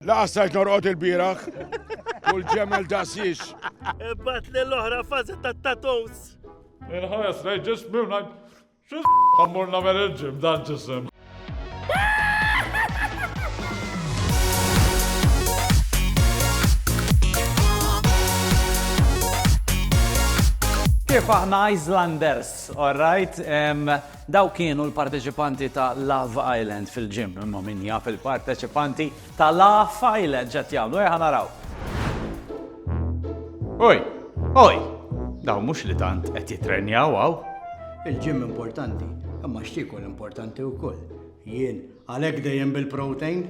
Laqas stajt norqod il-bieraħ u l-ġemel daqsiex. Ibat li l-oħra fazi ta' tattoos. Il-ħares lej ġismi u najt. Xis għammur namel il-ġim dan ġisem. Kif aħna Islanders, all right? Dawk kienu l-parteċipanti ta' Love Island fil-gym, imma min jaf il-parteċipanti ta' Laugh Island x'qed jagħmlu, ejja naraw. Oj, oj, dawn mhux li tant qed jitrenjaw hawn. Il-gym importanti, imma x'tiekol importanti wkoll. Jien għalhekk dejjem bil-protein.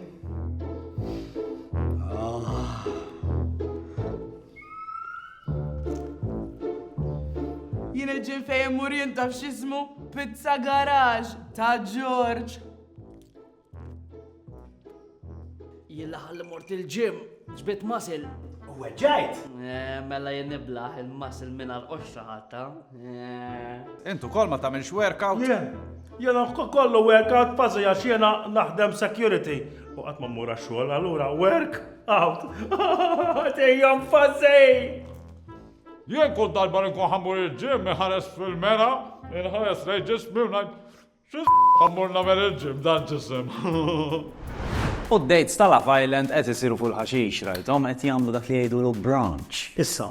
Ah. Jien il-ġim fejn immur jien taf x'ismu Pizza Garage ta' Ġorġ. Jien l-aħħar li mort il-ġim ġbit masil. U weġġajt? Eh, mela jien niblaħ il-masil minn għal-qoxra ħatta. Eh. Intu kol ma tagħmilx workout? Jien, jena kollu workout fażi għax jena naħdem security. U qatt ma mmur għax-xogħol, allura work. Out! Dejjem fażej! Jien kull darba li nkun ħammur il-ġim iħares fil-mera, inħares lej ġismi u ngħid xi ħammur nagħmel il-ġim dan ġisem. U d-dates ta' Love Island qed isiru fuq il-ħaxix, rajthom qed jagħmlu dak li jgħidulu branch. Issa,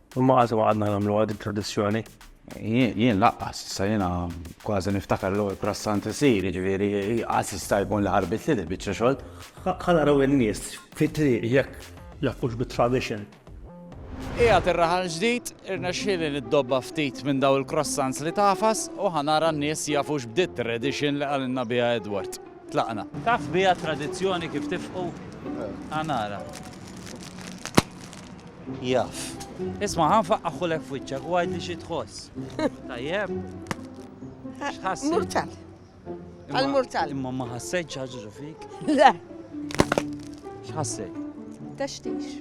Imma qatt ma qgħadna nagħmluha dik tradizzjoni. Jien laqqas, issa jiena kważi niftakar l-ewwel prassant isir, jiġifieri qatt jista' jkun li ħarbit li biċċa xogħol. Ħa naraw in-nies fit-triq jekk jaħbux bit-tradition. Qiegħed ir-raħal ġdid, irnexxieli li ddobba ftit minn dawn il-croissants li tagħfas u ħa nara n-nies jafux b'dit-tradition li qalilna biha Edward. Tlaqna. Taf biha t-tradizzjoni kif tifqu? Għa nara. Jaf. Isma' ħa nfaqqagħhulek f'wiċċek u għidli xi tħoss. Tajjeb? X'ħassi? Murtal. Għal-murtal. Imma ma ħassejt ħaġġu fik? Le. X'ħassejt? Textix.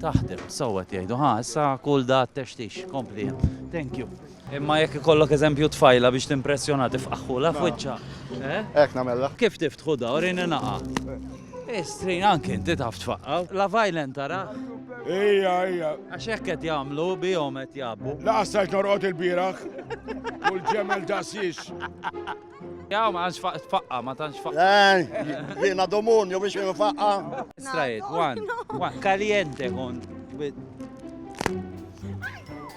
Taħdem, sewwa jgħidu, ħa, issa kull da textix, kompli. Thank you. Imma jekk ikollok eżempju tfajla biex timpressjonha tifqagħhulha f'wiċċha, eh? Hekk nagħmellha. Kif tiftħu da, urini naqa'. Eh strin anke inti taf tfaqqaw. La violent tara? Ejja, ejja. Għax hekk qed jagħmlu bihom qed jgħabbu. La qassajt norqod il-bieraħ. U l-ġemel dasiex. Jaw ma għanx faqqa, ma tantx faqqa. Eh, jiena domun, jew biex faqqa. Straight, one, one. Kaliente kont.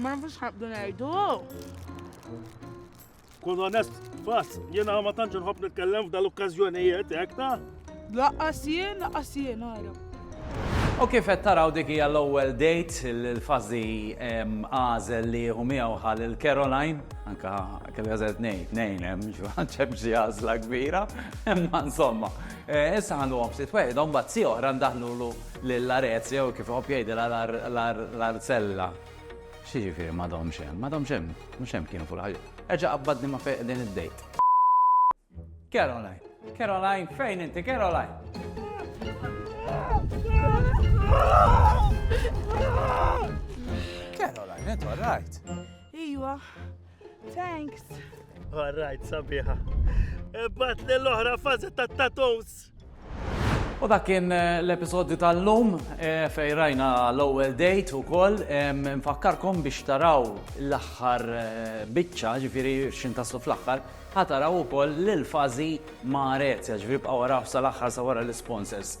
Ma nafux ħabdu ngħidu. Kun onest, bas, jiena ma tantx nħobb nitkellem f'dal okkażjonijiet hekk ta' Laqqas jien, laqqas jien, għara. U kif qed taraw dik hija l-ewwel dejt il-fażi għażel li jieħu miegħu ħal il-Caroline, anka kelli għażel tnejn, tnejn hemm ġuħanċeb xi għażla kbira, imma insomma. Eh, issa ħanduhom sit wieħed, imbagħad si oħra ndaħlulu Lill-għarez, jew kif iħobb jgħidilha l-għarzella. Xi jiġifieri m'għadhomx hemm? M'għadhomx hemm, mhux hemm kienu fuq il-ħajja. Erġa' qabbadni ma' fejn qegħdin id-dejt. Caroline, Caroline, fejn inti Caroline? Caroline, intu all right? Iwa, Thanks. All right, sabiħa. Ebbat li l-oħra fazi ta' tattoos. U dak kien eh, l-episodju tal-lum eh, fej rajna l-ewwel date ukoll nfakkarkom biex taraw l-aħħar eh, biċċa ġifieri x'in taslu fl-aħħar ħataraw ukoll lil fażi ma' Rezja ġifieri bqgħu waraw sal-aħħar sa wara l-sponsors.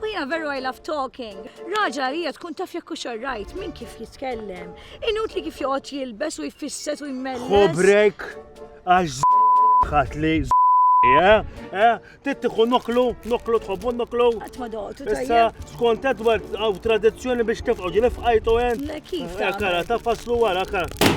U jiena veru I love talking. Raġel għalija tkun taf jekk hux alright minn kif jitkellem. Inutli kif joqgħod jilbes u jfisset u jmelles. Hu break għax ħadd li Eh, eh, tittiħu noklu, noklu tħobbu noklu. Għatma doqtu tajja. Issa, skont Edward, għaw tradizjoni biex tefqaw ġilif għajtu għen. Kif? Eh, kara, ta' faslu għara, kara.